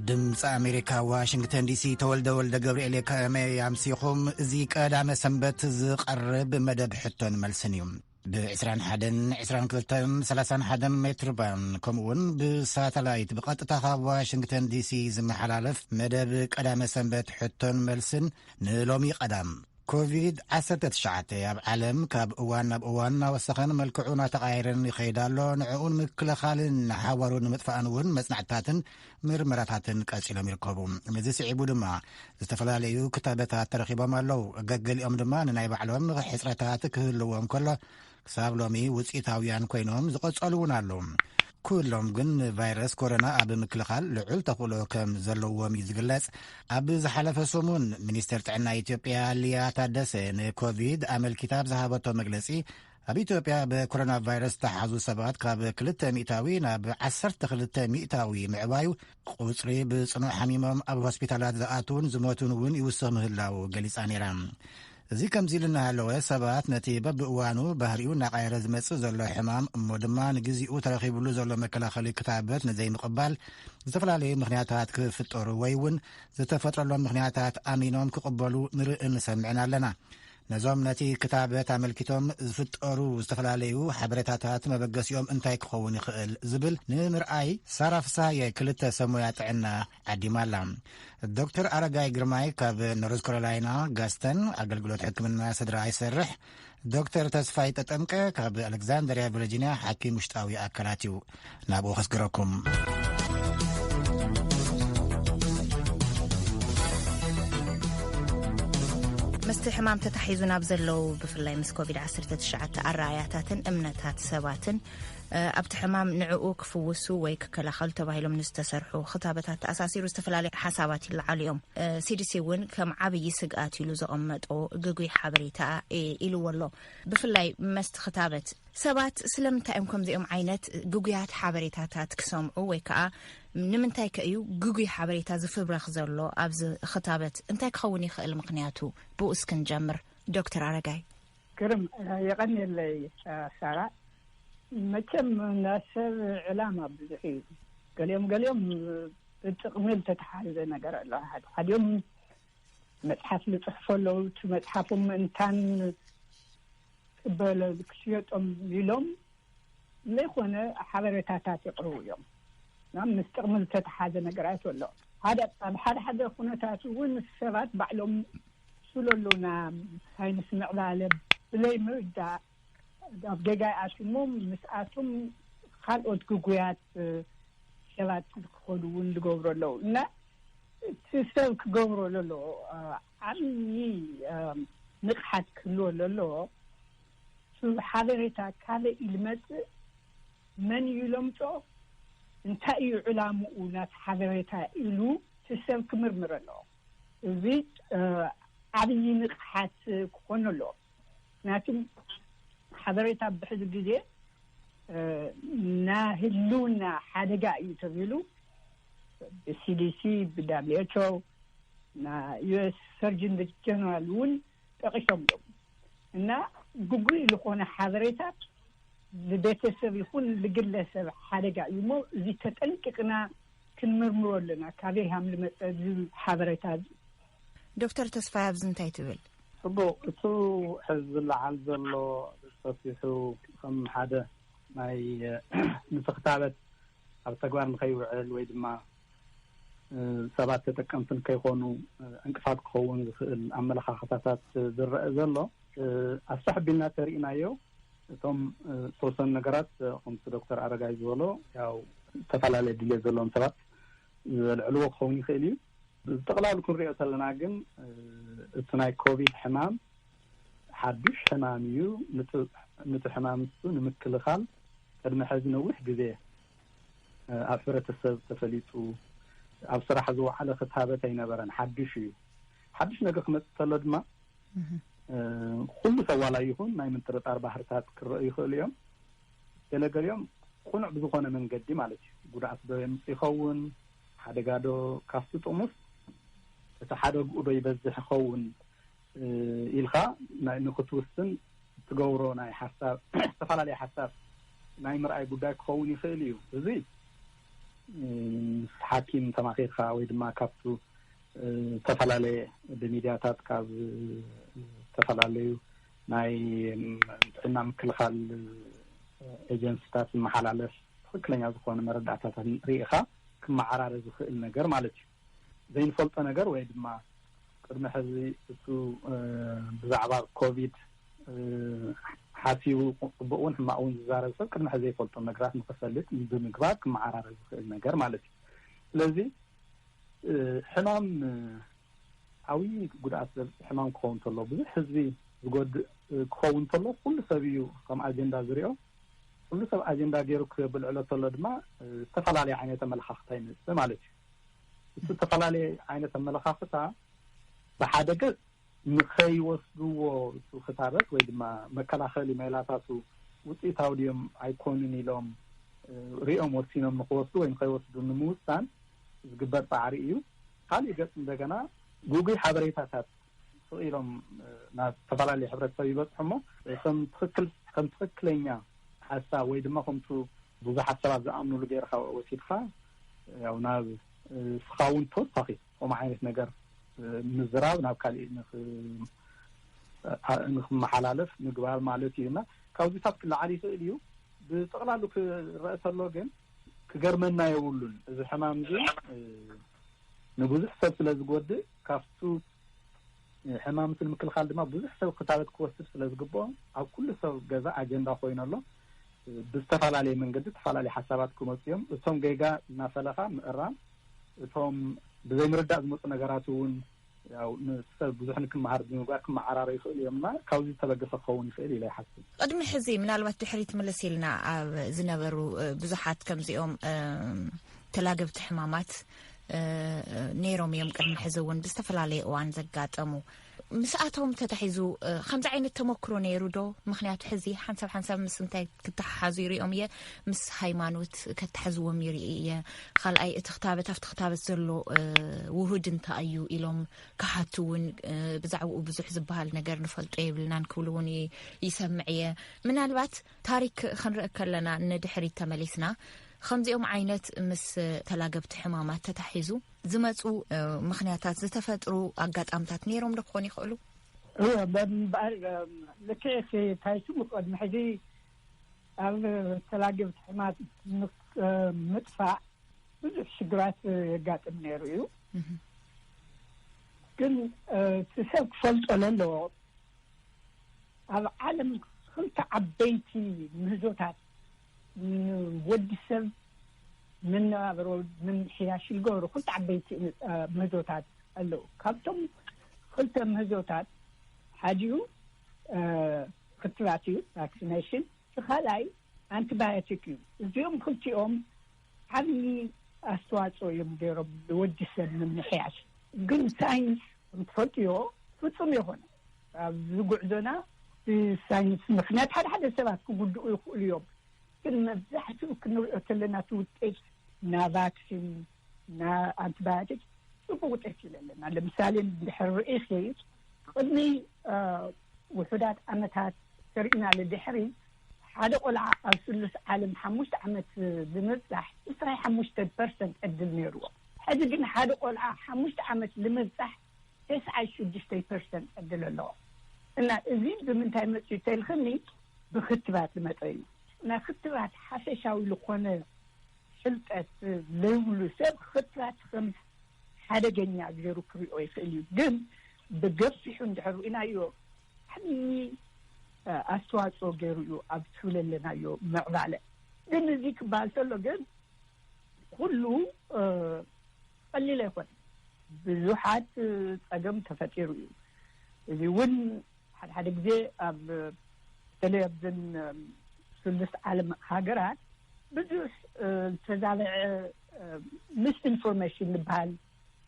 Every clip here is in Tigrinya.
ድምፂ ኣሜሪካ ዋሽንግተን ዲሲ ተወልደ ወልደ ገብርኤል ከመይ ኣምሲኹም እዚ ቀዳመ ሰንበት ዝቐርብ መደብ ሕቶን መልስን እዩ ብዕስራን ሓደን ዕስራን ክልተን ሰላሳን ሓደን ሜትር ባን ከምኡ እውን ብሳተላይት ብቐጥታ ካብ ዋሽንግተን ዲሲ ዝመሓላለፍ መደብ ቀዳመ ሰንበት ሕቶን መልስን ንሎሚ ቀዳም ኮቪድ-19 ኣብ ዓለም ካብ እዋን ናብ እዋን እናወሰኸን መልክዑ እናተቓየረን ይኸይድ ኣሎ ንዕኡ ንምክልኻልን ንሓዋሩ ንምጥፋእን እውን መጽናዕትታትን ምርመራታትን ቀጺሎም ይርከቡ ንዚ ስዒቡ ድማ ዝተፈላለዩ ክታበታት ተረኪቦም ኣለው ገገሊኦም ድማ ንናይ ባዕሎም ሕፅረታት ክህልዎም ከሎ ክሳብ ሎሚ ውፅኢታውያን ኮይኖም ዝቐጸሉ እውን ኣለዉ ኩሎም ግን ንቫይረስ ኮሮና ኣብ ምክልኻል ልዑል ተኽእሎ ከም ዘለዎም እዩ ዝግለጽ ኣብ ዝሓለፈ ሰሙን ሚኒስትር ጥዕና ኢትዮጵያ ልያ ታደሰ ንኮቪድ ኣመልኪታ ብዝሃበቶ መግለጺ ኣብ ኢትዮጵያ ብኮሮና ቫይረስ ዝተሓዙ ሰባት ካብ ክልተ ሚእታዊ ናብ ዓሰርተ ክልተ ሚእታዊ ምዕባዩ ቁፅሪ ብፅኑዕ ሓሚሞም ኣብ ሆስፒታላት ዝኣትውን ዝሞቱን እውን ይውስኽ ምህላው ገሊፃ ነይራ። እዚ ከምዚ ኢሉ እናሃለወ ሰባት ነቲ በብእዋኑ ባህሪኡ እናቐየረ ዝመጽእ ዘሎ ሕማም እሞ ድማ ንግዜኡ ተረኺብሉ ዘሎ መከላኸሊ ክታበት ንዘይምቕባል ዝተፈላለዩ ምኽንያታት ክፍጠሩ ወይ እውን ዝተፈጥረሎም ምኽንያታት ኣሚኖም ክቕበሉ ንርእን ንሰምዕን ኣለና ነዞም ነቲ ክታበት ኣመልኪቶም ዝፍጠሩ ዝተፈላለዩ ሓበሬታታት መበገሲኦም እንታይ ክኸውን ይኽእል ዝብል ንምርኣይ ሳራ ፍሳሃየ ክልተ ሰብ ሞያ ጥዕና ዓዲማ ኣላ ዶክተር ኣረጋይ ግርማይ ካብ ኖርዝ ካሮላይና ጋስተን ኣገልግሎት ሕክምና ስድራ ይሰርሕ ዶክተር ተስፋይ ጠጠምቀ ካብ ኣሌክዛንደርያ ቨርጂንያ ሓኪም ውሽጣዊ ኣካላት እዩ ናብኡ ከስግረኩም ምስቲ ሕማም ተታሒዙ ናብ ዘለዉ ብፍላይ ምስ ኮቪድ-19 ኣረኣያታትን እምነታት ሰባትን ኣብቲ ሕማም ንዕኡ ክፍውሱ ወይ ክከላኸሉ ተባሂሎም ንዝተሰርሑ ክታበታት ተኣሳሲሩ ዝተፈላለዩ ሓሳባት ይለዓሉ እዮም ሲዲሲ እውን ከም ዓብዪ ስግኣት ኢሉ ዘቐመጦ ግጉይ ሓበሬታ ኢልዎ ኣሎ ብፍላይ መስቲ ክታበት ሰባት ስለምንታይ እዮም ከምዚኦም ዓይነት ግጉያት ሓበሬታታት ክሰምዑ ወይ ከዓ ንምንታይ ከ እዩ ግጉይ ሓበሬታ ዝፍብረኽ ዘሎ ኣብዚ ክታበት እንታይ ክኸውን ይኽእል ምክንያቱ ብኡ እስኪ ንጀምር ዶክተር ኣረጋይ ግርም የቐኒለይ ሳራ መቸም ናሰብ ዕላማ ብዙሕ እዩ ገሊኦም ገሊኦም ብጥቕሚ ዝተተሓዘ ነገር ኣለ ሓዲኦም መፅሓፍ ዝፅሕፎ ኣለዉ እቲ መፅሓፉ ምእንታን ቅበለ ክሽየጦም ኢሎም ዘይኮነ ሓበሬታታት የቕርቡ እዮም። ምስ ጥቕሚ ዝተተሓዘ ነገራት ኣሎ። ኣብ ሓደ ሓደ ኩነታት እውን ሰባት ባዕሎም ስለሉና ሳይንስ ምዕባለ ብዘይ ምርዳእ ኣብ ጌጋ ይኣትዉ እሞ ምስኣቶም ካልኦት ግጉያት ሰባት ክኾኑ እውን ዝገብሩ ኣለዉ እና እቲ ሰብ ክገብሮ ዘለዎ ዓብዪ ንቕሓት ክህልዎ ለለዎ። እቲ ሓበሬታ ካበይ እዩ ልመጽእ፣ መን እዩ ለምጾ፣ እንታይ እዩ ዕላምኡ ናቲ ሓበሬታ ኢሉ እቲ ሰብ ክምርምር ኣለዎ። እዚ ዓብዪ ንቕሓት ክኾኖ ኣለዎ። ምክንያቱ ሓበሬታ ብሕዚ ግዜ ናይ ህልውና ሓደጋ እዩ ተብሂሉ ብሲዲሲ፣ ብዳብሊው ኤች ኦ፣ ናይ ዩኤስ ሰርጅን ጀነራል እውን ጠቂሶም እዮም እና ግጉይ ዝኾነ ሓበሬታ ልቤተሰብ ይኹን ልግለሰብ ሓደጋ እዩ እሞ እዚ ተጠንቂቅና ክንምርምሮ ኣለና ካበይ ሃም ልመፀ እዚ ሓበሬታ እዚ ዶክተር ተስፋይ ኣብዚ እንታይ ትብል ሕቦ እቱ ሕዚ ዝለዓል ዘሎ ሰፊሑ ከም ሓደ ናይ ንስክታበት ኣብ ተግባር ንከይውዕል ወይ ድማ ሰባት ተጠቀምቲ ንከይኮኑ ዕንቅፋት ክኸውን ዝኽእል ኣመለኻኽታታት ዝረአ ዘሎ ኣሳሕቢና ተርእናዮ እቶም ዝተወሰኑ ነገራት ከምቲ ዶክተር ኣረጋይ ዝበሎ ያው ዝተፈላለየ ድልት ዘለዎም ሰባት ዘልዕልዎ ክኸውን ይኽእል እዩ ብጠቕላሉ ክንሪኦ ተለና ግን እቲ ናይ ኮቪድ ሕማም ሓዱሽ ሕማም እዩ ንቲ ሕማም ንሱ ንምክልኻል ቅድሚ ሕዚ ነዊሕ ግዜ ኣብ ሕብረተሰብ ተፈሊጡ ኣብ ስራሕ ዝወዓለ ክታበት ኣይነበረን፣ ሓዱሽ እዩ። ሓዱሽ ነገር ክመፅእ ተሎ ድማ ኩሉ ሰብ ዋላ ይኹን ናይ ምጥርጣር ባህርታት ክረአዩ ይኽእሉ እዮም። ገለገሊኦም ቁኑዕ ብዝኾነ መንገዲ ማለት እዩ ጉድኣት ዶ የምፅ ይኸውን ሓደጋ ዶ ካብቲ ጥሙስ እቲ ሓደግኡ ዶ ይበዝሕ ይኸውን ኢልካ ናይ ንክትውስን እትገብሮ ናይ ሓሳብ ዝተፈላለየ ሓሳብ ናይ ምርኣይ ጉዳይ ክኸውን ይኽእል እዩ። እዚ ምስ ሓኪም ተማኺርካ ወይ ድማ ካብቱ ዝተፈላለየ ብሚድያታት ካብ ዝተፈላለዩ ናይ ጥዕና ምክልኻል ኤጀንስታት ዝመሓላለፍ ትኽክለኛ ዝኾነ መረዳእታታት ርኢኻ ክመዓራረ ዝኽእል ነገር ማለት እዩ። ዘይንፈልጦ ነገር ወይ ድማ ቅድሚ ሕዚ እቱ ብዛዕባ ኮቪድ ሓሲቡ ፅቡቅ እውን ሕማቅ እውን ዝዛረብ ሰብ ቅድሚ ሕዚ ዘይፈልጦም ነገራት ንክፈልጥ ብምግባር ክመዓራረ ዝኽእል ነገር ማለት እዩ። ስለዚ ሕማም ዓብይ ጉድኣት ዘብፅ ሕማም ክኸውን ተሎ ብዙሕ ህዝቢ ዝጎድእ ክኸውን ተሎ ኩሉ ሰብ እዩ ከም ኣጀንዳ ዝሪኦ ኩሉ ሰብ ኣጀንዳ ገይሩ ክብልዕሎ ተሎ ድማ ዝተፈላለዩ ዓይነት ኣመለካክታ ይመፅእ ማለት እዩ። ዝተፈላለየ ዓይነት ኣመለኻኽታ ብሓደ ገፅ ንኸይወስድዎ እቱ ክታበት ወይ ድማ መከላኸሊ ሜላታቱ ውፅኢታዊ ድዮም ኣይኮኑን ኢሎም ሪኦም ወሲኖም ንክወስዱ ወይ ንኸይወስዱ ንምውሳን ዝግበር ፃዕሪ እዩ። ካሊእ ገፅ እንደገና ጉጉይ ሓበሬታታት ስቕ ኢሎም ናብ ዝተፈላለዩ ሕብረተሰብ ይበፅሑ እሞ ከም ትኽክል ከም ትኽክለኛ ሓሳብ ወይ ድማ ከምቱ ብዙሓት ሰባት ዝኣምንሉ ገይርካ ወሲድካ ያው ናብ ንስኻ እውን ተወሳኺ ከምኡ ዓይነት ነገር ምዝራብ ናብ ካሊእ ንክመሓላለፍ ምግባር ማለት እዩ እና ካብዚታት ክለዓል ይኽእል እዩ ብጠቕላሉ ክረአ ተሎ ግን ክገርመና የብሉን እዚ ሕማም እዚ ንብዙሕ ሰብ ስለ ዝጎድእ ካብቱ ሕማምቲ ንምክልኻል ድማ ብዙሕ ሰብ ክታበት ክወስድ ስለ ዝግብኦ ኣብ ኩሉ ሰብ ገዛ ኣጀንዳ ኮይኑ ኣሎ ብዝተፈላለየ መንገዲ ተፈላለየ ሓሳባት ክመፁ እዮም። እቶም ጌጋ እናፈለኻ ምእራም፣ እቶም ብዘይምርዳእ ዝመፁ ነገራት እውን ያው ንሰብ ብዙሕ ንክመሃር ብምግባር ክመዓራረዩ ይኽእሉ እዮም እና ካብዚ ዝተበገሰ ክኸውን ይኽእል ኢለ ይሓስብ። ቕድሚ ሕዚ ምናልባት ድሕሪት ምልስ ኢልና ኣብ ዝነበሩ ብዙሓት ከምዚኦም ተላገብቲ ሕማማት ነይሮም እዮም፣ ቅድሚ ሕዚ እውን ብዝተፈላለየ እዋን ዘጋጠሙ። ምስኣቶም ተታሒዙ ከምዚ ዓይነት ተመክሮ ነይሩ ዶ ምክንያቱ ሕዚ ሓንሳብ ሓንሳብ ምስ እንታይ ክተሓሓዙ ይርኦም እየ ምስ ሃይማኖት ከታሓዝዎም ይርኢ እየ ካልኣይ እቲ ክታበት ኣብቲ ክታበት ዘሎ ውሁድ እንታ እዩ ኢሎም ክሓቱ እውን ብዛዕባኡ ብዙሕ ዝበሃል ነገር ንፈልጦ የብልናን ክብሉ እውን ይሰምዕ እየ ምናልባት ታሪክ ክንርኢ ከለና ንድሕሪት ተመሊስና ከምዚኦም ዓይነት ምስ ተላገብቲ ሕማማት ተታሒዙ ዝመፁ ምክንያታት ዝተፈጥሩ ኣጋጣምታት ነይሮም ዶ ክኾኑ ይኽእሉ? ልክዕኪ እንታይ ስሙ ቅድሚ ሕዚ ኣብ ተላገብቲ ሕማት ምጥፋእ ብዙሕ ሽግራት የጋጥም ነይሩ እዩ ግን እቲ ሰብ ክፈልጦ ለለዎ ኣብ ዓለም ክልተ ዓበይቲ ምህዞታት ንወዲ ሰብ መነባብሮ ምምሕያሽ ዝገብሩ ክልተ ዓበይቲ ምህዞታት ኣለዉ። ካብቶም ክልተ ምህዞታት ሓዲኡ ክትባት እዩ፣ ቫክሲነሽን፣ እቲ ካልኣይ ኣንቲባዮቲክ እዩ። እዚኦም ክልቲኦም ዓብዪ ኣስተዋፅኦ እዮም ገይሮም ንወዲ ሰብ ምምሕያሽ ግን ሳይንስ ከምትፈልጥዮ ፍፁም የኮነ ኣብዚ ጉዕዞና ብሳይንስ ምክንያት ሓደ ሓደ ሰባት ክጉድኡ ይኽእሉ እዮም ግን መብዛሕትኡ ክንሪኦ ተለና እቲ ውጤት ና ቫክሲን ና ኣንቲባዮቲክ ፅቡቅ ውጤት ይለለና ለምሳሌ ንድሕር ርኢኪ ቅድሚ ውሑዳት ዓመታት ተሪእና ልድሕሪ ሓደ ቆልዓ ኣብ ስሉስ ዓለም ሓሙሽተ ዓመት ልምብፃሕ ዕስራ ሓሙሽተ ፐርሰንት ዕድል ነይርዎ ሕዚ ግን ሓደ ቆልዓ ሓሙሽተ ዓመት ልምብፃሕ ተስዓይ ሽዱሽተ ፐርሰንት ዕድል ኣለዎ እና እዚ ብምንታይ መፅዩ ተልክኒ ብክትባት ልመፀ እዩ እና ክትባት ሓፈሻዊ ልኮነ ፍልጠት ዘይብሉ ሰብ ኽትራት ኸም ሓደገኛ ገይሩ ክሪኦ ይኽእል እዩ። ግን ብገፊሑ እንድሕር ርኢናዮ ዓብዪ ኣስተዋፅኦ ገይሩ እዩ ኣብ ዝብለለናዮ ምዕባለ። ግን እዚ ክበሃል ተሎ ግን ኹሉ ቐሊል ኣይኮነን። ብዙሓት ፀገም ተፈጢሩ እዩ። እዚ እውን ሓደ ሓደ ግዜ ኣብ በተለይ ኣብዘን ስሉስ ዓለም ሃገራት ብዙሕ ዝተዛበዐ ምስ ኢንፎርሜሽን ዝበሃል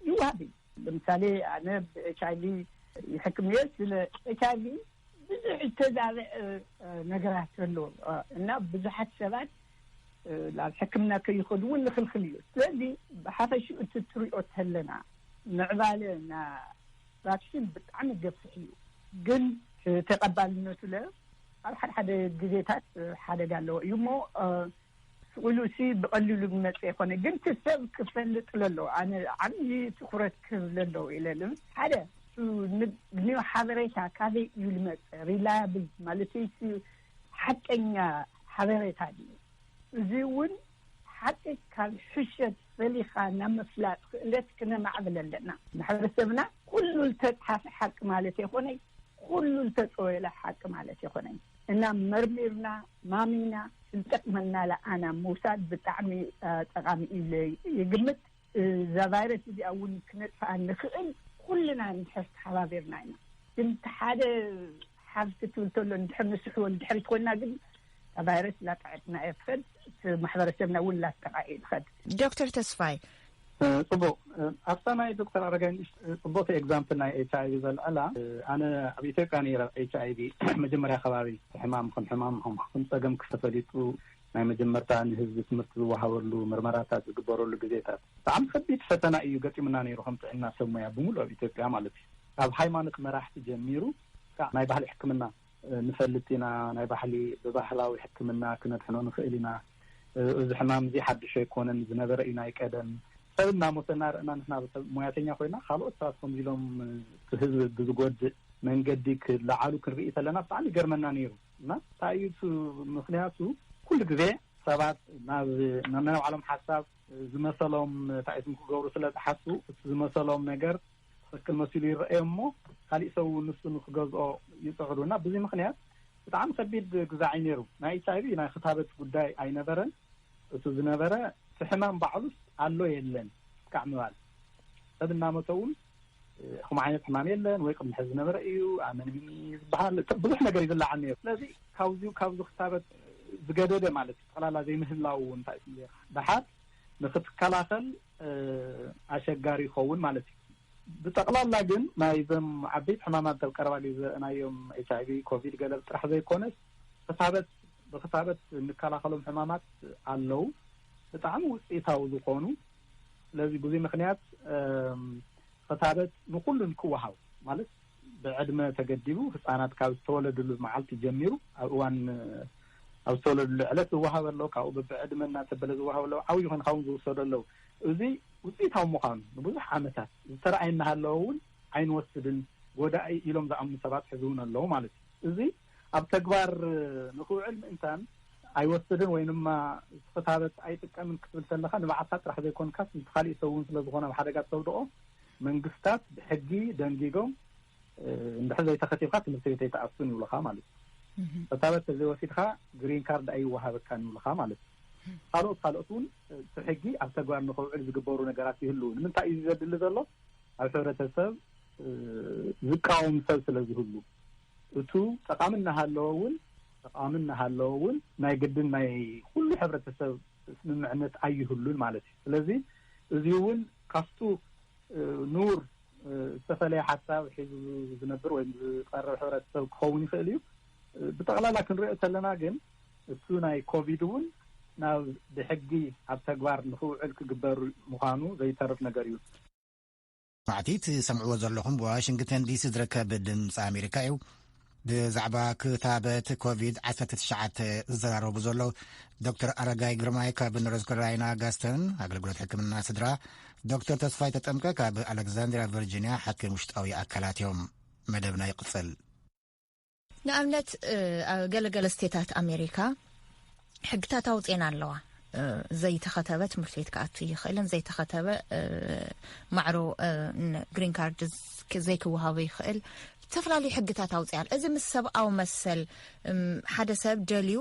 ይዋሃብ እዩ ለምሳሌ ኣነ ብኤች ኣይቪ ይሕክም እየ ስለ ኤች ኣይቪ ብዙሕ ዝተዛበዐ ነገራት ኣሎ እና ብዙሓት ሰባት ናብ ሕክምና ከይኸዱ እውን ንክልክል እዩ ስለዚ ብሓፈሽ እቲ ትሪኦ ተለና ምዕባለ ና ቫክሲን ብጣዕሚ ገፊሕ እዩ ግን ተቀባልነቱ ለ ኣብ ሓደ ሓደ ግዜታት ሓደጋ ኣለዎ እዩ እሞ ስቅ ኢሉ ሲ ብቀሊሉ ዝመፀ ኣይኮነ ግን እቲ ሰብ ክፈልጥ ለለዎ ኣነ ዓብዪ ትኩረት ክህብ ለለዎ እዩ ለለ ሓደ ን ሓበሬታ ካበይ እዩ ዝመፀ ሪላያብል ማለተይሲ ሓቀኛ ሓበሬታ ድዩ እዚ እውን ሓቂ ካብ ሕሸት ፈሊኻ ናብ ምፍላጥ ክእለት ክነማዕብል ኣለና። ማሕበረሰብና ኩሉ ልተፅሓፈ ሓቂ ማለት የኮነይ ኩሉ ልተፀወየለ ሓቂ ማለት የኮነይ እና መርሚርና ማሚና ልጠቅመና ለኣና ምውሳድ ብጣዕሚ ጠቃሚ እዩ ኢለ ይግምት። እዛ ቫይረስ እዚኣ እውን ክነጥፍኣ እንኽእል ኩልና እንድሕር ተሓባቢርና ኢና። ግን እቲ ሓደ ሓፍቲ ትብል ተሎ እንድሕር ንስሕቦ ንድሕሪት ኮይና ግን እታ ቫይረስ ላጠዐትና እያ ትኸድ፣ እቲ ማሕበረሰብና እውን ላጠቓዕ እዩ ዝኸድ። ዶክተር ተስፋይ። ፅቡቕ ኣብታ ናይ ዶክተር ኣረጋይ ንእሽተይ ፅቡቕቲ ኤግዛምፕል ናይ ኤች ኣይቪ ዘልዐላ ኣነ ኣብ ኢትዮጵያ ነይረ ኤች ኣይቪ መጀመርያ ከባቢ እቲ ሕማም ከም ሕማም ከም ፀገም ክፈተሊጡ ናይ መጀመርታ ንህዝቢ ትምህርቲ ዝወሃበሉ ምርመራታት ዝግበረሉ ግዜታት ብጣዕሚ ከቢድ ፈተና እዩ ገጢሙና ነይሩ ከም ጥዕና ሰብ ሞያ ብምሉእ ኣብ ኢትዮጵያ ማለት እዩ ካብ ሃይማኖት መራሕቲ ጀሚሩ ክሳዕ ናይ ባህሊ ሕክምና ንፈልጥ ኢና ናይ ባህሊ ብባህላዊ ሕክምና ክነድሕኖ ንኽእል ኢና እዚ ሕማም እዚ ሓዱሽ ኣይኮነን ዝነበረ እዩ ናይ ቀደም ሰብ እናሞተ እናርእና ንሕና ሰብ ሞያተኛ ኮይና ካልኦት ሰባት ከምዚ ኢሎም እቲ ህዝቢ ብዝጎድእ መንገዲ ክለዓሉ ክንርኢ ከለና ብጣዕሚ ይገርመና ነይሩ እና ታይ እዩ እቲ ምክንያቱ ኩሉ ግዜ ሰባት ናብ ነናይ ባዕሎም ሓሳብ ዝመሰሎም ታይ እዩ ክገብሩ ስለ ዝሓስቡ እቲ ዝመሰሎም ነገር ትክክል መሲሉ ይረኣዮም እሞ ካሊእ ሰብ እውን ንሱ ንክገዝኦ ይፅዕሩ እና ብዙይ ምክንያት ብጣዕሚ ከቢድ ግዛዕ እዩ ነይሩ ናይ ኤች ኣይቪ ናይ ክታበት ጉዳይ ኣይነበረን እቱ ዝነበረ እቲ ሕማም ባዕሉስ ኣሎ የለን እስካዕ ምባል ሰብ እናመተ እውን ከምኡ ዓይነት ሕማም የለን ወይ ቅድሚ ሕዚ ዝነበረ እዩ ኣመንሚኒ ዝበሃል ብዙሕ ነገር እዩ ዝለዓል ነይሩ ስለዚ ካብዚ ካብዚ ክታበት ዝገደደ ማለት እዩ ጠቅላላ ዘይምህላው እውን እንታይ እዩ ስምዘ ደሓር ንክትከላኸል ኣሸጋሪ ይኸውን ማለት እዩ ብጠቅላላ ግን ናይ ዘም ዓበይቲ ሕማማት ተብ ቀረባ ግዜ ዘርእናዮም ኤች ኣይቪ ኮቪድ ገለብ ጥራሕ ዘይኮነስ ክታበት ብክታበት እንከላኸሎም ሕማማት ኣለው ብጣዕሚ ውፅኢታዊ ዝኾኑ ስለዚ ብዙይ ምክንያት ኽታበት ንኩሉን ክወሃብ ማለት ብዕድመ ተገዲቡ ህፃናት ካብ ዝተወለድሉ መዓልቲ ጀሚሩ ኣብ እዋን ኣብ ዝተወለድሉ ዕለት ዝወሃበ ኣሎ ካብኡ ብብዕድመ እናተበለ ዝወሃበ ኣለዉ ዓብይ ኮይንካ እውን ዝውሰዶ ኣለዉ እዙይ ውፅኢታዊ ምዃኑ ንብዙሕ ዓመታት ዝተረኣየ እናሃለወ እውን ኣይንወስድን ጎዳኢ ኢሎም ዝኣምኑ ሰባት ሕዚ እውን ኣለዉ ማለት እዩ እዙይ ኣብ ተግባር ንክውዕል ምእንታን ኣይወስድን ወይ ድማ ክታበት ኣይጥቀምን ክትብል ተለካ ንባዕልካ ጥራሕ ዘይኮንካስ ንቲ ካሊእ ሰብ እውን ስለዝኮነ ኣብ ሓደጋ ተውድቆ መንግስታት ብሕጊ ደንጊጎም እንድሕር ዘይተከቲብካ ትምህርቲ ቤት ኣይትኣቱን ይብልካ ማለት እዩ ክታበት ተዘይወሲድካ ግሪን ካርድ ኣይወሃበካን ይብልካ ማለት እዩ ካልኦት ካልኦት እውን እቲ ሕጊ ኣብ ተግባር ንክውዕል ዝግበሩ ነገራት ይህልው ንምንታይ እዩ ዘድሊ ዘሎ ኣብ ሕብረተሰብ ዝቃወም ሰብ ስለዝህሉ እቱ ጠቓሚ እናሃለወ እውን ጠቓሚ እናሃለወ እውን ናይ ግድን ናይ ኹሉ ሕብረተሰብ ስምምዕነት ኣይህሉን ማለት እዩ። ስለዚ እዙይ እውን ካፍቱ ንውር ዝተፈለየ ሓሳብ ሒዙ ዝነብር ወይ ዝቐርብ ሕብረተሰብ ክኸውን ይኽእል እዩ። ብጠቕላላ ክንሪኦ ተለና ግን እቱ ናይ ኮቪድ እውን ናብ ብሕጊ ኣብ ተግባር ንኽውዕል ክግበር ምዃኑ ዘይተርፍ ነገር እዩ። ማዕቲ ትሰምዕዎ ዘለኹም ብዋሽንግተን ዲሲ ዝርከብ ድምፂ ኣሜሪካ እዩ ብዛዕባ ክታበት ኮቪድ 19 ዝዘራረቡ ዘሎ ዶክተር ኣረጋይ ግርማይ ካብ ኖርዝ ካሮላይና ጋስተን ኣገልግሎት ሕክምና ስድራ ዶክተር ተስፋይ ተጠምቀ ካብ ኣሌክዛንድሪያ ቨርጂንያ ሓኪም ውሽጣዊ ኣካላት እዮም መደብና ይቕፅል ንኣብነት ገለ ገለ ስቴታት ኣሜሪካ ሕግታት ኣውፅኤን ኣለዋ ዘይተኸተበ ትምህርቲ ቤት ክኣቱ ይኽእልን ዘይተኸተበ ማዕሮ ግሪን ካርድ ዘይክወሃቡ ይኽእል ዝተፈላለዩ ሕግታት ኣውፅኣል እዚ ምስ ሰብኣዊ መሰል ሓደ ሰብ ደልዩ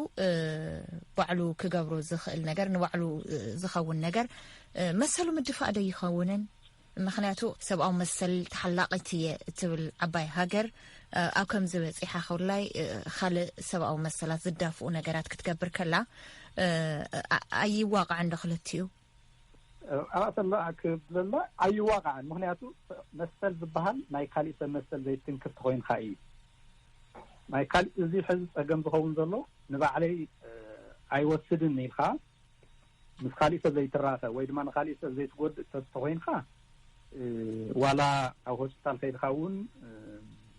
ባዕሉ ክገብሮ ዝኽእል ነገር ንባዕሉ ዝኸውን ነገር መሰሉ ምድፋእ ዶ ይኸውንን ምክንያቱ ሰብኣዊ መሰል ተሓላቂት እየ እትብል ዓባይ ሃገር ኣብ ከምዚ በፂሓ ክብላይ ካልእ ሰብኣዊ መሰላት ዝዳፍኡ ነገራት ክትገብር ከላ ኣይዋቃዕን ዶ ክልትኡ ኣሰላ ክብለላ ኣይዋቃዕን ምክንያቱ መሰል ዝበሃል ናይ ካሊእ ሰብ መሰል ዘይትንክፍቲ ኮይንካ እዩ ናይ ካሊእ እዚ ሕዚ ፀገም ዝኸውን ዘሎ ንባዕለይ ኣይወስድን ኢልካ ምስ ካሊእ ሰብ ዘይትራኸ ወይ ድማ ንካሊእ ሰብ ዘይትጎድእ ሰብ ተኾይንካ ዋላ ኣብ ሆስፒታል ከይድካ እውን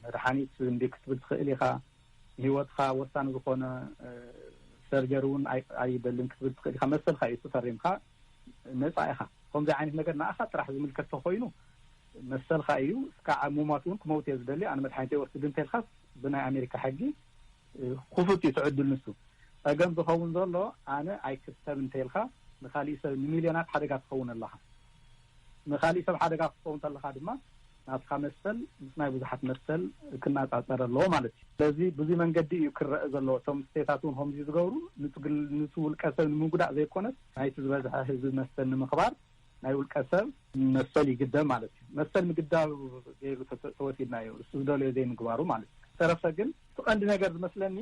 መድሓኒት እንዲ ክትብል ትኽእል ኢኻ ንሂወትካ ወሳኒ ዝኾነ ሰርጀሪ እውን ኣይደልን ክትብል ትኽእል ኢኻ መሰልካ እዩ ፈሪምካ ነፃ ኢኻ ከምዚ ዓይነት ነገር ንኣኻ ጥራሕ ዝምልከት ተኾይኑ መሰልካ እዩ እስካዓ ሙማት እውን ክመውት እየ ዝደሊ ኣነ መድሓኒት ኣይወስድን እንተልካስ ብናይ ኣሜሪካ ሕጊ ኩፉት እዩ ትዕድል ንሱ ጸገም ዝኸውን ዘሎ ኣነ ኣይክሰብ እንተኢልካ ንካሊእ ሰብ ንሚልዮናት ሓደጋ ትኸውን ኣለኻ ንካሊእ ሰብ ሓደጋ ክትከውን ተለኻ ድማ ናትካ መሰል ምስ ናይ ብዙሓት መሰል ክናጻጸር ኣለዎ ማለት እዩ ስለዚ ብዙይ መንገዲ እዩ ክረእ ዘለዎ እቶም ስቴታት ውን ከምዚ ዝገብሩ ንቲ ውልቀ ሰብ ንምጉዳእ ዘይኮነስ ናይቲ ዝበዝሐ ህዝቢ መሰል ንምኽባር ናይ ውልቀ ሰብ መሰል ይግደብ ማለት እዩ። መሰል ምግዳብ ገይሩ ተወሲድናዮ ንሱ ዝደለዮ ዘይምግባሩ ማለት እዩ። ዝተረፈ ግን እቲ ቀንዲ ነገር ዝመስለኒ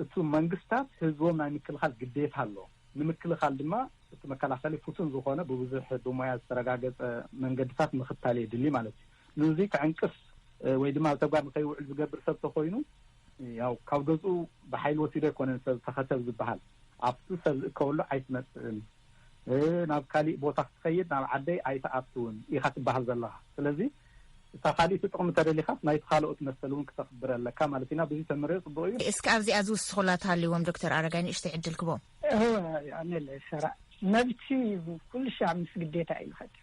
እቱ መንግስታት ህዝቦም ናይ ምክልኻል ግዴታ ኣሎ። ንምክልኻል ድማ እቲ መከላኸሊ ፍቱን ዝኾነ ብብዙሕ ብሞያ ዝተረጋገፀ መንገድታት ምኽታል የድሊ ማለት እዩ። ንዙይ ክዕንቅፍ ወይ ድማ ኣብ ተግባር ንከይውዕል ዝገብር ሰብ ተኾይኑ ያው ካብ ገዝኡ ብሓይሊ ወሲዶ ኣይኮነን ሰብ ተኸተብ ዝበሃል ኣብቲ ሰብ ዝእከበሉ ኣይትመፅእን ናብ ካሊእ ቦታ ክትኸይድ ናብ ዓደይ ኣይትኣትውን ኢኻ ትበሃል ዘለኻ። ስለዚ እታ ካሊእቲ ጥቕሚ ተደሊኻስ ናይቲ ካልኦት መሰል እውን ክተኽብር ኣለካ ማለት ኢና። ብዙይ ተምርዮ ፅቡቕ እዩ። እስከ ኣብዚኣ ዝውስኹላ ተሃሊዎም ዶክተር ኣረጋይ ንእሽተይ ዕድል ክቦም። እወ ኣነለ ሰራእ መብቲ ኩሉ ሻዕ ምስ ግዴታ እዩ ዝኸድ።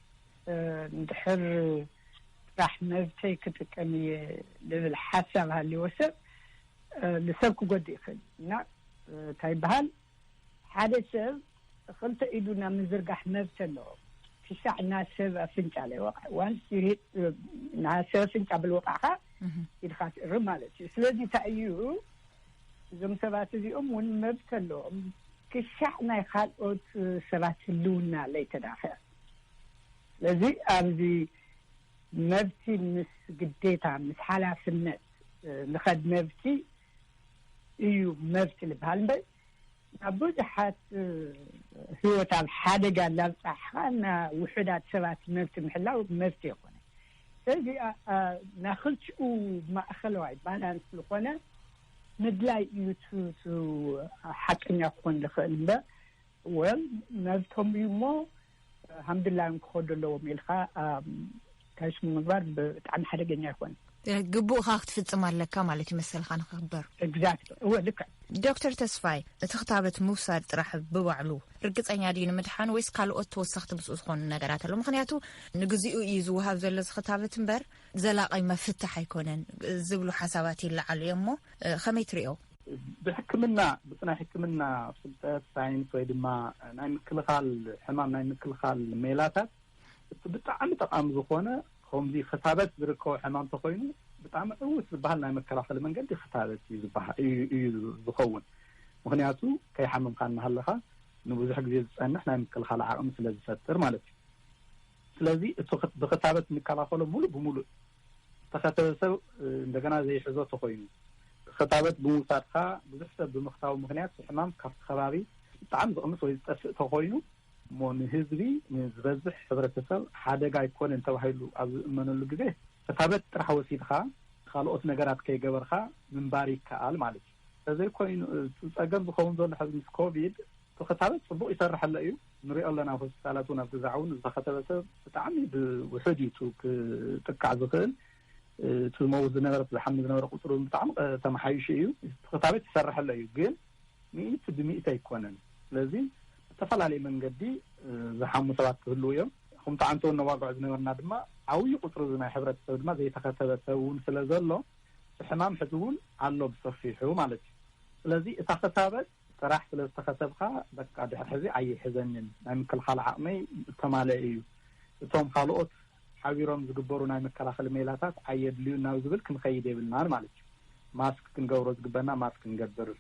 እንድሕር ጥራሕ መብተይ ክጥቀም እየ ልብል ሓሳብ ሃሊዎ ሰብ ልሰብ ክጎድእ ይኽእል እዩ እና ታይ ይበሃል ሓደ ሰብ ኽልተ ኢዱ ናብ ምዝርጋሕ መብቲ ኣለዎ ክሻዕ ናሰብ ኣፍንጫ ለይወቅዐ ዋንስ ዩ ሂት ናሰብ ኣፍንጫ ብልወቃዕካ ኢድካ ትእርም ማለት እዩ ስለዚ እንታይ እዩ እዞም ሰባት እዚኦም እውን መብቲ ኣለዎም ክሻዕ ናይ ካልኦት ሰባት ህልውና ለይተዳፈ ስለዚ ኣብዚ መብቲ ምስ ግዴታ ምስ ሓላፍነት ንኸድ መብቲ እዩ መብት ልበሃል እምበር ናብ ብዙሓት ህይወት ኣብ ሓደጋ ላብፃሕኻ ና ውሑዳት ሰባት መብት ምሕላው መብት ይኹነ ስለዚ ናክልቲኡ ማእኸለዋይ ባላንስ ዝኾነ ምድላይ እዩ ሓቀኛ ክኾን ዝኽእል እምበር ወ መብቶም እዩ እሞ ሃምድላዮም ክኸዱ ኣለዎም ኢልካ ታይሱ ምግባር ብጣዕሚ ሓደገኛ ኣይኮነ ግቡእ ካ ክትፍፅም ኣለካ ማለት እዩ መሰልካ ንክክበር ግዛት እወ ልክ ዶክተር ተስፋይ እቲ ክታበት ምውሳድ ጥራሕ ብባዕሉ ርግፀኛ ድዩ ንምድሓን ወይስ ካልኦት ተወሳኽቲ ምስኡ ዝኾኑ ነገራት ኣሎ ምክንያቱ ንግዜኡ እዩ ዝውሃብ ዘሎ ዚ ክታበት እምበር ዘላቀይ መፍትሕ ኣይኮነን ዝብሉ ሓሳባት ይለዓሉ እዮም ሞ ከመይ ትሪኦ ብሕክምና ብናይ ሕክምና ፍልጠት ሳይንስ ወይ ድማ ናይ ምክልኻል ሕማም ናይ ምክልኻል ሜላታት እቲ ብጣዕሚ ጠቃሚ ዝኾነ ከምዚ ክታበት ዝርከቦ ሕማም እንተኮይኑ ብጣዕሚ ዕውት ዝበሃል ናይ መከላኸሊ መንገዲ ክታበት እዩ ዝበሃል እዩ ዝኸውን ምክንያቱ ከይሓመምካ እናሃለካ ንብዙሕ ግዜ ዝፀንሕ ናይ ምክልኻል ዓቅሚ ስለ ዝፈጥር ማለት እዩ ስለዚ እቲ ብክታበት እንከላኸሎ ሙሉእ ብሙሉእ ዝተኸተበ ሰብ እንደገና ዘይሕዞ ተኾይኑ፣ ክታበት ብምውሳድካ ብዙሕ ሰብ ብምክታቡ ምክንያት እቲ ሕማም ካብቲ ከባቢ ብጣዕሚ ዝቕንስ ወይ ዝጠፍእ ተኾይኑ፣ እሞ ንህዝቢ ንዝበዝሕ ሕብረተሰብ ሓደጋ ኣይኮነን ተባሂሉ ኣብ ዝእመነሉ ግዜ፣ ክታበት ጥራሕ ወሲድኻ ካልኦት ነገራት ከይገበርኻ ምንባር ይከኣል ማለት እዩ። ተዘይኮይኑ እቲ ፀገም ዝኸውን ዘሎ ሕዚ ምስ ኮቪድ እቲ ክታበት ፅቡቕ ይሰርሕ ኣሎ እዩ ንሪኦ ኣለና ኣብ ሆስፒታላት እውን ኣብ ግዛዕ እውን ዝተኸተበ ሰብ ብጣዕሚ ብውሑድ እዩ እቲ ክጥቃዕ ዝኽእል እቲ ዝመውት ዝነበረ እቲ ዝሓሚ ዝነበረ ቁፅሪ እውን ብጣዕሚ ተመሓይሹ እዩ እቲ ክታበት ይሰርሕ ኣሎ እዩ ግን ሚእቲ ብሚእቲ ኣይኮነን ስለዚ ብተፈላለየ መንገዲ ዝሓሙ ሰባት ክህልው እዮም ከምቲ ዓንተውን ነዋግዖ ዝነበርና ድማ ዓብዪ ቁፅሪ እዚ ናይ ሕብረተሰብ ድማ ዘይተኸተበ ሰብ እውን ስለ ዘሎ ብሕማም ሕዚ ውን ኣሎ ብሰፊሑ ማለት እዩ ስለዚ እታ ክታበት ጥራሕ ስለ ዝተኸተብካ በቃ ድሕሪ ሕዚ ኣይሕዘንን ናይ ምክልኻል ዓቕመይ ዝተማለኤ እዩ እቶም ኻልኦት ሓቢሮም ዝግበሩ ናይ መከላኸሊ ሜላታት ኣየድልዩን ናብ ዝብል ክንኸይድ የብልናን ማለት እዩ ማስክ ክንገብሮ ዝግበና ማስክ ንገብር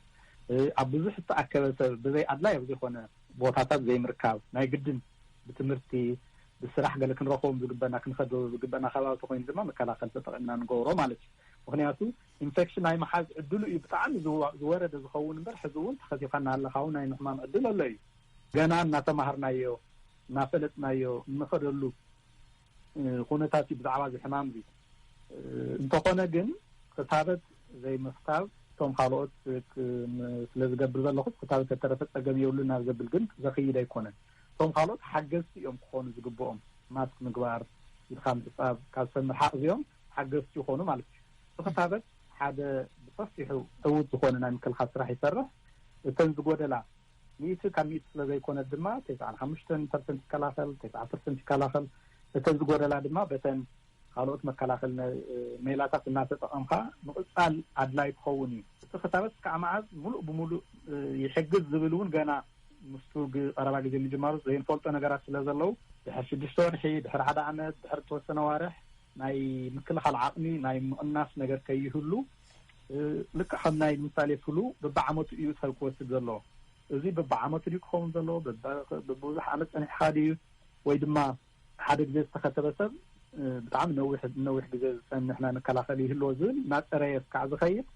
ኣብ ብዙሕ ዝተኣከበ ሰብ ብዘይ ኣድላይ ኣብ ዘይኾነ ቦታታት ዘይምርካብ ናይ ግድን ብትምህርቲ ብስራሕ ገለ ክንረኽቦም ዝግበና ክንከዶም ዝግበና ከባቢ ተኾይኑ ድማ መከላኸሊ ተጠቒምና ንገብሮ ማለት እዩ። ምኽንያቱ ኢንፌክሽን ናይ ምሓዝ ዕድሉ እዩ ብጣዕሚ ዝወረደ ዝኸውን እምበር ሕዚ እውን ተኸሲብካ እናሃለኻ እውን ናይ ምሕማም ዕድል ኣሎ እዩ። ገና እናተማሃርናዮ እናፈለጥናዮ እንኸደሉ ኩነታት እዩ ብዛዕባ እዚ ሕማም እዚ። እንተኾነ ግን ክታበት ዘይምኽታብ እቶም ካልኦት ስለ ዝገብር ዘለኹ ክታበት ተተረፈ ፀገም የብሉን ናብ ዘብል ግን ዘኽይድ ኣይኮነን። እቶም ካልኦት ሓገዝቲ እዮም ክኾኑ ዝግብኦም፣ ማስክ ምግባር፣ ኢድኻ ምሕፃብ፣ ካብ ሰብ ምርሓቕ እዚኦም ሓገዝቲ ይኾኑ ማለት እዩ። እቲ ክታበት ሓደ ብሰፊሑ ዕዉት ዝኾነ ናይ ምክልኻል ስራሕ ይሰርሕ፣ እተን ዝጎደላ ሚእቲ ካብ ሚእቲ ስለዘይኮነት ድማ ተስዓን ሓሙሽተን ፐርሰንት ይከላኸል፣ ተስዓ ፐርሰንት ይከላኸል፣ እተን ዝጎደላ ድማ በተን ካልኦት መከላኸሊ ሜላታት እናተጠቐምካ ምቕፃል ኣድላይ ክኸውን እዩ። እቲ ክታበት እስካዕ መዓዝ ሙሉእ ብሙሉእ ይሕግዝ ዝብል እውን ገና ምስቱ ቀረባ ግዜ ምጅማሩ ዘይንፈልጦ ነገራት ስለዘለዉ ድሕሪ ሽዱሽተ ወርሒ፣ ድሕሪ ሓደ ዓመት፣ ድሕሪ እተወሰነ ኣዋርሕ ናይ ምክልኻል ዓቕሚ ናይ ምቕናስ ነገር ከይህሉ ልክዕ ከም ናይ ንምሳሌ ፍሉ በብዓመቱ እዩ ሰብ ክወስድ ዘለዎ። እዚ በብዓመቱ ድዩ ክኸውን ዘለዎ፣ በብብዙሕ ዓመት ፀኒሕኻ ድዩ ወይ ድማ ሓደ ግዜ ዝተኸተበ ሰብ ብጣዕሚ ነዊሕ ንነዊሕ ግዜ ዝፀንሕ ናይ መከላኸሊ ይህልዎ ዝብል እናፀረየ እስካዕ ዝኸይድ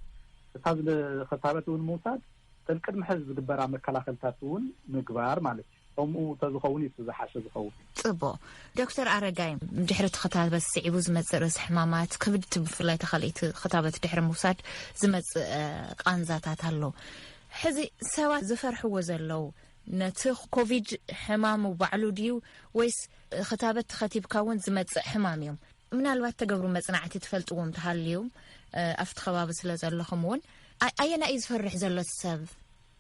እታ ዝኸታበት እውን ምውሳድ እተን ቅድሚ ሕዚ ዝግበራ መከላኸልታት እውን ምግባር ማለት እዩ ከምኡ ተዝኸውን እዩ ዝሓሸ ዝኸውን ፅቡቅ ዶክተር ኣረጋይ ድሕሪ እቲ ክታበት ስዒቡ ዝመፅእ ርእሲ ሕማማት ክብድቲ ብፍላይ ተካልኢቲ ክታበት ድሕሪ ምውሳድ ዝመፅእ ቃንዛታት ኣሎ ሕዚ ሰባት ዝፈርሕዎ ዘለው ነቲ ኮቪድ ሕማሙ ባዕሉ ድዩ ወይስ ክታበት ተኸቲብካ እውን ዝመፅእ ሕማም እዮም ምናልባት ተገብሩ መፅናዕቲ ትፈልጥዎም ተሃልዩ ኣብቲ ከባቢ ስለ ዘለኹም እውን ኣየና እዩ ዝፈርሕ ዘሎ ሰብ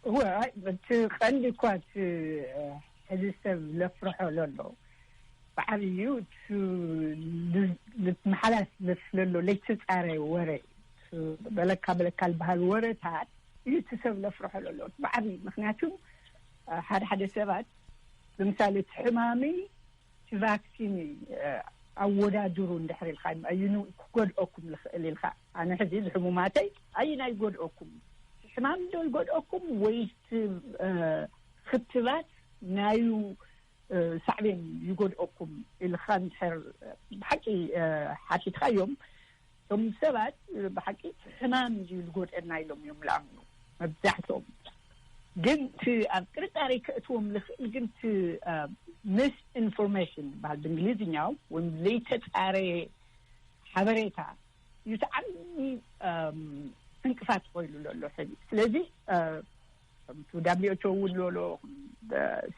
እወ እቲ ቀንዲ እኳ እቲ ሕዚ ሰብ ዘፍርሖ ዘሎ በዓል እዩ ንመሓላስ ዘስለሎ ለይተፃረየ ወረ እዩ በለካ በለካ ዝበሃል ወረታት እዩ እቲ ሰብ ለፍርሖ ለሎ ብዓብ ምክንያቱ ሓደ ሓደ ሰባት ንምሳሌ እቲ ሕማሚ እቲ ቫክሲን ኣወዳድሩ እንድሕር ኢልካ ኣይኑ ክጎድኦኩም ዝኽእል ኢልካ ኣነ ሕዚ ዝሕሙማተይ ኣይና ይጎድኦኩም ሕማም ዶ ይጎድኦኩም ወይ ክትባት ናዩ ሳዕቤን ይጎድኦኩም ኢልካ ንድሕር ብሓቂ ሓቲትካ እዮም እቶም ሰባት ብሓቂ እቲ ሕማም እዚ ዝጎድእና ኢሎም እዮም ዝኣምኑ መብዛሕትኦም ግን እቲ ኣብ ጥርጣሬ ከእትዎም ዝኽእል ግን እቲ ምስ ኢንፎርሜሽን ዝበሃል ብእንግሊዝኛ ወይም ዘይተፃረየ ሓበሬታ እዩ እቲ ዓብዪ ዕንቅፋት ኮይኑ ዘሎ ሕዚ ስለዚ ከምቲ ዳብሊኦቾ እውን ሎሎ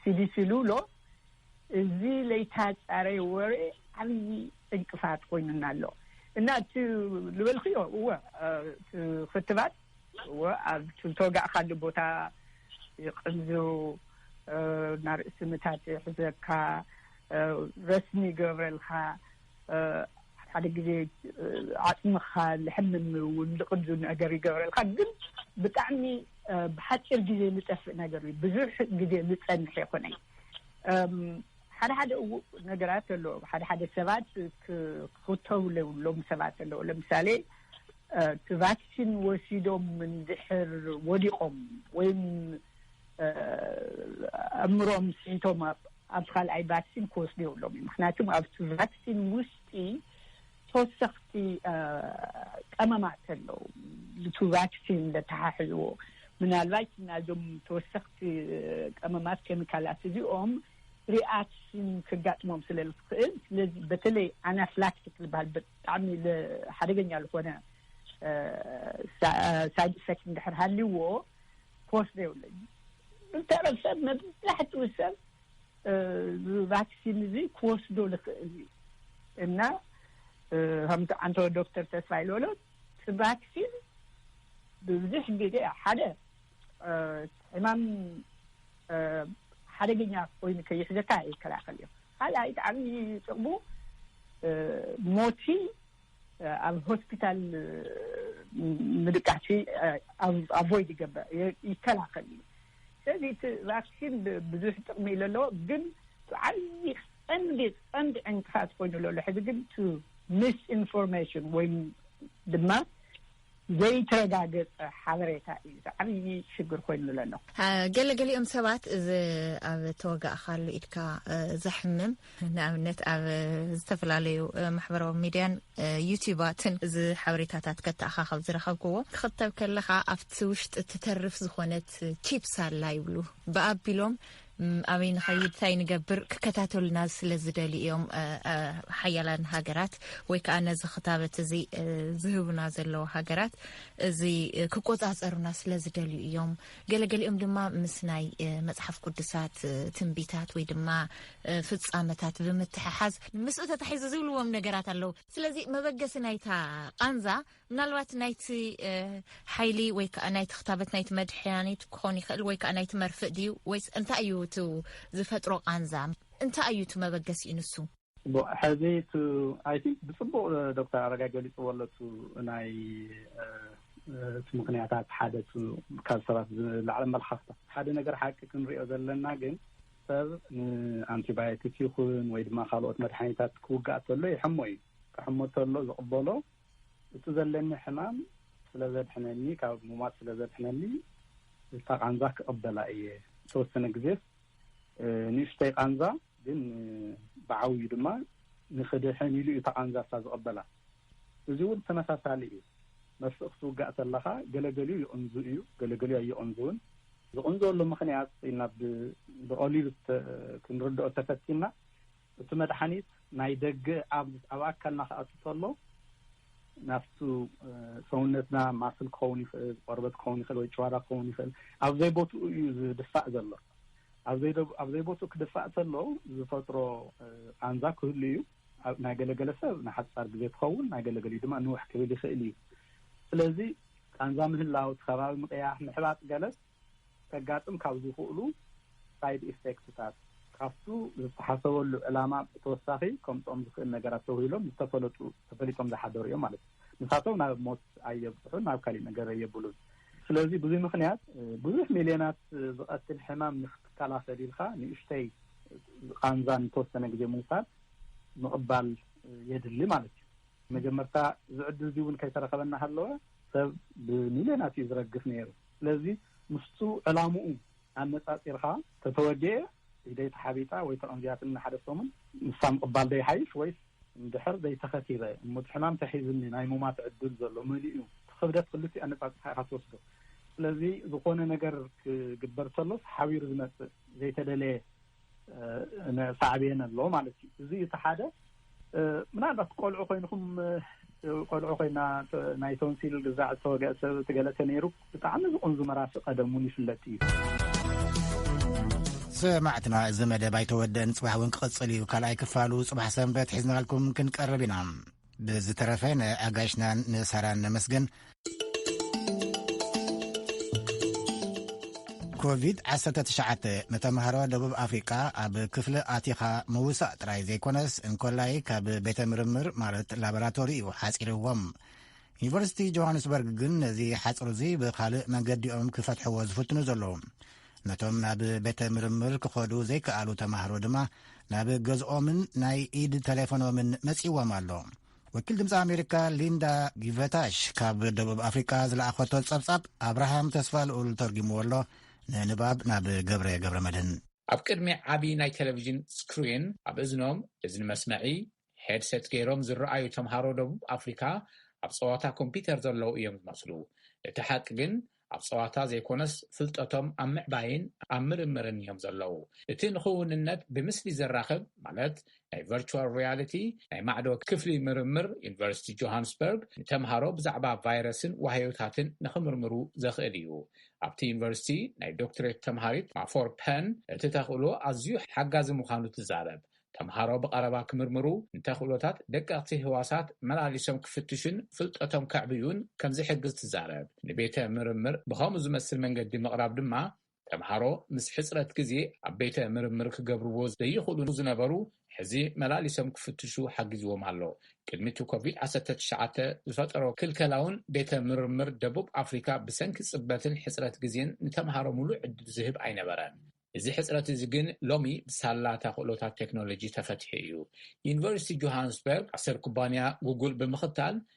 ሲዲሲ ሉሎ እዚ ለይታፃረየ ወረ ዓብዪ ዕንቅፋት ኮይኑና ኣሎ እና እቲ ልበልክዮ እወ ክትባት እወ ኣብ ዝተወጋእካሉ ቦታ ይቅንዙ ናርእሲ ምታት ይሕዘካ ረስኒ ይገብረልካ ሓደ ግዜ ዓፅምኻ ልሕምን እውን ልቕንዙ ነገር ይገብረልካ ግን ብጣዕሚ ብሓፂር ግዜ ልጠፍእ ነገር እዩ ብዙሕ ግዜ ልፀንሕ ይኹነይ ሓደ ሓደ እው ነገራት ኣሎ ሓደ ሓደ ሰባት ክኽተቡ ለብሎም ሰባት ኣለዉ ለምሳሌ እቲ ቫክሲን ወሲዶም እንድሕር ወዲቖም ወይም ኣእምሮም ስሒቶም ኣብ ካልኣይ ቫክሲን ክወስዱ የብሎም እዩ ምክንያቱም ኣብቲ ቫክሲን ውሽጢ ተወሰኽቲ ቀመማት ኣለው ዝቱ ቫክሲን ዘተሓሕዝዎ ምናልባይት ናዞም ተወሰኽቲ ቀመማት ኬሚካላት እዚኦም ሪኣክሽን ክጋጥሞም ስለ ዝኽእል ስለዚ በተለይ ኣናፍላክቲክ ዝበሃል ብጣዕሚ ሓደገኛ ዝኾነ ሳይድ ኢፌክት እንድሕር ሃልዎ ክወስዶ የብለይ ብተረፍ ሰብ መብዛሕትኡ ሰብ ቫክሲን እዚ ክወስዶ ዝኽእል እዩ እና ከምቲ ዓንተ ዶክተር ተስፋ ኢልበሎ እቲ ቫክሲን ብብዙሕ ግዜ ሓደ ሕማም ሓደገኛ ኮይኑ ከይሕዘካ ይከላኸል እዩ ካልኣይ ጣዕሚ ጥቕሙ ሞቲ ኣብ ሆስፒታል ምድቃሲ ኣቮይድ ይገበር ይከላኸል እዩ ስለዚ እቲ ቫክሲን ብዙሕ ጥቕሚ ዩ ለለዎ ግን ዓብዪ ቀንዲ ቀንዲ ዕንቅፋት ኮይኑ ለሎ ሕዚ ግን ቱ ሚስ ኢንፎርሜሽን ወይ ድማ ዘይተረጋገፀ ሓበሬታ እዩ እዚ ዓብዪ ሽግር ኮይኑሉ ዘሎ። ገለ ገሊኦም ሰባት እዚ ኣብ ተወጋእካሉ ኢድካ ዘሕምም ንኣብነት ኣብ ዝተፈላለዩ ማሕበራዊ ሚድያን ዩቲባትን እዚ ሓበሬታታት ከተኣኻኸብ ዝረኸብክዎ ክኽተብ ከለኻ ኣብቲ ውሽጢ ትተርፍ ዝኾነት ቺፕስ ኣላ ይብሉ ብኣቢሎም ኣበይ ንኸይድ ታይ ንገብር ክከታተሉና ስለ ዝደልዩ እዮም ሓያላን ሃገራት ወይ ከዓ ነዚ ክታበት እዚ ዝህቡና ዘለዉ ሃገራት እዚ ክቆፃፀሩና ስለ ዝደልዩ እዮም ገለገሊኦም ድማ ምስ ናይ መፅሓፍ ቅዱሳት ትንቢታት ወይ ድማ ፍፃመታት ብምትሕሓዝ ምስኡ ተታሒዙ ዝብልዎም ነገራት ኣለዉ ስለዚ መበገሲ ናይታ ቃንዛ ምናልባት ናይቲ ሓይሊ ወይ ከዓ ናይቲ ክታበት ናይቲ መድሕያኒት ክኾን ይኽእል ወይ ከዓ ናይቲ መርፍእ ድዩ ወይስ እንታይ እዩ እቲ ዝፈጥሮ ቃንዛ እንታይ እዩ እቲ መበገሲኡ ንሱ ሕዚ ኣይ ቲንክ ብፅቡቅ ዶክተር ኣረጋይ ገሊፅዎ ኣሎ ቱ ናይ እቲ ምክንያታት ሓደ ካብ ሰባት ዝለዓለ ኣመላኻኽታ ሓደ ነገር ሓቂ ክንሪኦ ዘለና ግን ሰብ ንኣንቲባዮቲክ ይኹን ወይ ድማ ካልኦት መድሓኒታት ክውጋእ ተሎ ይሕሞ እዩ ክሕሞ ተሎ ዝቕበሎ እቲ ዘለኒ ሕማም ስለ ዘድሕነኒ፣ ካብ ሙማት ስለ ዘድሕነኒ፣ እታ ቃንዛ ክቕበላ እየ። ዝተወሰነ ግዜስ ንእሽተይ ቃንዛ ግን ብዓብዩ ድማ ንኽድሕን ኢሉ እዩ እታ ቃንዛ እሳ ዝቕበላ። እዚ እውን ተመሳሳሊ እዩ። መርፍእ ክትውጋእ ተለኻ ገለ ገሊኡ ይቕንዙ እዩ፣ ገለ ገሊኡ ኣይቕንዙን። ዝቕንዘወሉ ምኽንያት ኢልና ብቐሊሉ ክንርድኦ ተፈቲንና፣ እቲ መድሓኒት ናይ ደገ ኣብ ኣካልና ክኣቱ ተሎ ናብቲ ሰውነትና ማስል ክኸውን ይኽእል፣ ቆርበት ክኸውን ይኽእል ወይ ጭዋዳ ክኸውን ይኽእል ኣብ ዘይቦትኡ እዩ ዝድፋእ ዘሎ። ኣብ ዘይቦትኡ ክድፋእ ተሎ ዝፈጥሮ ቃንዛ ክህሉ እዩ። ናይ ገለ ገለ ሰብ ንሓጻር ግዜ ትኸውን ናይ ገለ ገሊኡ ድማ ንውሕ ክብል ይኽእል እዩ። ስለዚ ቃንዛ ምህላው፣ እቲ ከባቢ ምቕያሕ፣ ምሕባጥ ገለስ ከጋጥም ካብ ዝኽእሉ ሳይድ ኢፌክትታት ካብቱ ዝተሓሰበሉ ዕላማ ብተወሳኺ ከምፅኦም ዝኽእል ነገራት ተውሂሎም ዝተፈለጡ ተፈሊጦም ዝሓደሩ እዮም ማለት እዩ። ንሳቶም ናብ ሞት ኣየብፅሑን ናብ ካሊእ ነገር ኣየብሉን። ስለዚ ብዙይ ምኽንያት ብዙሕ ሚልዮናት ዝቐትል ሕማም ንክትከላኸል ኢልካ ንእሽተይ ቓንዛ ንተወሰነ ግዜ ምውሳድ ምቕባል የድሊ ማለት እዩ። መጀመርታ እዚ ዕድል እዙይ እውን ከይተረኸበ እናሃለወ ሰብ ብሚልዮናት እዩ ዝረግፍ ነይሩ። ስለዚ ምስቱ ዕላምኡ ኣነጻጺርካ ተተወድኤ ኢደይ ተሓቢጣ ወይ ተቐንዚያትኒ ንሓደ ሰሙን ንሳ ምቕባል ዶ ይሓይሽ ወይስ እንድሕር ዘይተኸቲበ እሙት ሕማም ተሒዝኒ ናይ ሙማት ዕድል ዘሎ መን'ዩ ትኽብደት ክልቲኡ ኣነጻጺርካ ኢኻ ትወስዶ ስለዚ ዝኾነ ነገር ክግበር ተሎስ ሓቢሩ ዝመጽእ ዘይተደለየ ሳዕቤን ኣሎ ማለት እዩ እዚ እቲ ሓደ ምናልባት ቆልዑ ኮይንኩም ቆልዑ ኮይና ናይ ቶንሲል ግዛዕ ዝተወገ ሰብ ትገለተ ነይሩ ብጣዕሚ ዝቕንዙ መራሲ ቀደም እውን ይፍለጥ እዩ ሰማዕትና እዚ መደብ ኣይተወደን ፅባሕ እውን ክቕፅል እዩ ካልኣይ ክፋሉ ፅባሕ ሰንበት ሒዝናልኩም ክንቀርብ ኢና ብዝተረፈ ንኣጋይሽናን ንሳራን ነመስግን። ኮቪድ 19 ንተምሃሮ ደቡብ ኣፍሪቃ ኣብ ክፍሊ ኣቲኻ ምውሳእ ጥራይ ዘይኮነስ እንኮላይ ካብ ቤተ ምርምር ማለት ላቦራቶሪ እዩ ሓፂርዎም ዩኒቨርሲቲ ጆሃንስበርግ ግን ነዚ ሓፅር እዚ ብካልእ መንገዲኦም ክፈትሕዎ ዝፍትኑ ዘለዉ ነቶም ናብ ቤተ ምርምር ክኸዱ ዘይከኣሉ ተማህሮ ድማ ናብ ገዝኦምን ናይ ኢድ ተሌፎኖምን መጺዎም ኣሎ ወኪል ድምፂ ኣሜሪካ ሊንዳ ጊቨታሽ ካብ ደቡብ ኣፍሪቃ ዝለኣኸቶ ጸብጻብ ኣብርሃም ተስፋ ልኡል ተርጊምዎ ኣሎ ንንባብ ናብ ገብረ ገብረ መድህን ኣብ ቅድሚ ዓብዪ ናይ ቴሌቭዥን ስክሪን ኣብ እዝኖም እዝኒ መስመዒ ሄድሰት ገይሮም ዝረኣዩ ተምሃሮ ደቡብ ኣፍሪካ ኣብ ፀዋታ ኮምፒተር ዘለዉ እዮም ዝመስሉ። እቲ ሓቂ ግን ኣብ ፀዋታ ዘይኮነስ ፍልጠቶም ኣብ ምዕባይን ኣብ ምርምርን እዮም ዘለዉ። እቲ ንክውንነት ብምስሊ ዘራኽብ ማለት ናይ ቨርቹዋል ሪያሊቲ ናይ ማዕዶ ክፍሊ ምርምር ዩኒቨርሲቲ ጆሃንስበርግ ንተምሃሮ ብዛዕባ ቫይረስን ዋህዮታትን ንክምርምሩ ዘኽእል እዩ። ኣብቲ ዩኒቨርሲቲ ናይ ዶክትሬት ተምሃሪት ማፎር ፐን እቲ ተኽእሎ ኣዝዩ ሓጋዚ ምዃኑ ትዛረብ። ተምሃሮ ብቐረባ ክምርምሩ፣ ንተኽእሎታት ደቀቕቲ ህዋሳት መላሊሶም ክፍትሹን ፍልጠቶም ከዕብዩን ከም ዝሕግዝ ትዛረብ። ንቤተ ምርምር ብኸምኡ ዝመስል መንገዲ ምቕራብ ድማ፣ ተምሃሮ ምስ ሕጽረት ግዜ ኣብ ቤተ ምርምር ክገብርዎ ዘይኽእሉ ዝነበሩ ሕዚ መላሊሶም ክፍትሹ ሓጊዝዎም ኣሎ። ቅድሚ እቲ ኮቪድ ዓሰርተ ትሽዓተ ዝፈጠሮ ክልከላ'ውን ቤተ ምርምር ደቡብ ኣፍሪካ ብሰንኪ ጽበትን ሕጽረት ግዜን ንተምሃሮ ምሉእ ዕድል ዝህብ ኣይነበረን። እዚ ሕጽረት እዚ ግን ሎሚ ብሳላ ተኽእሎታት ቴክኖሎጂ ተፈቲሑ እዩ። ዩኒቨርሲቲ ጆሃንስበርግ ዓሰብ ኩባንያ ጉጉል ብምኽታል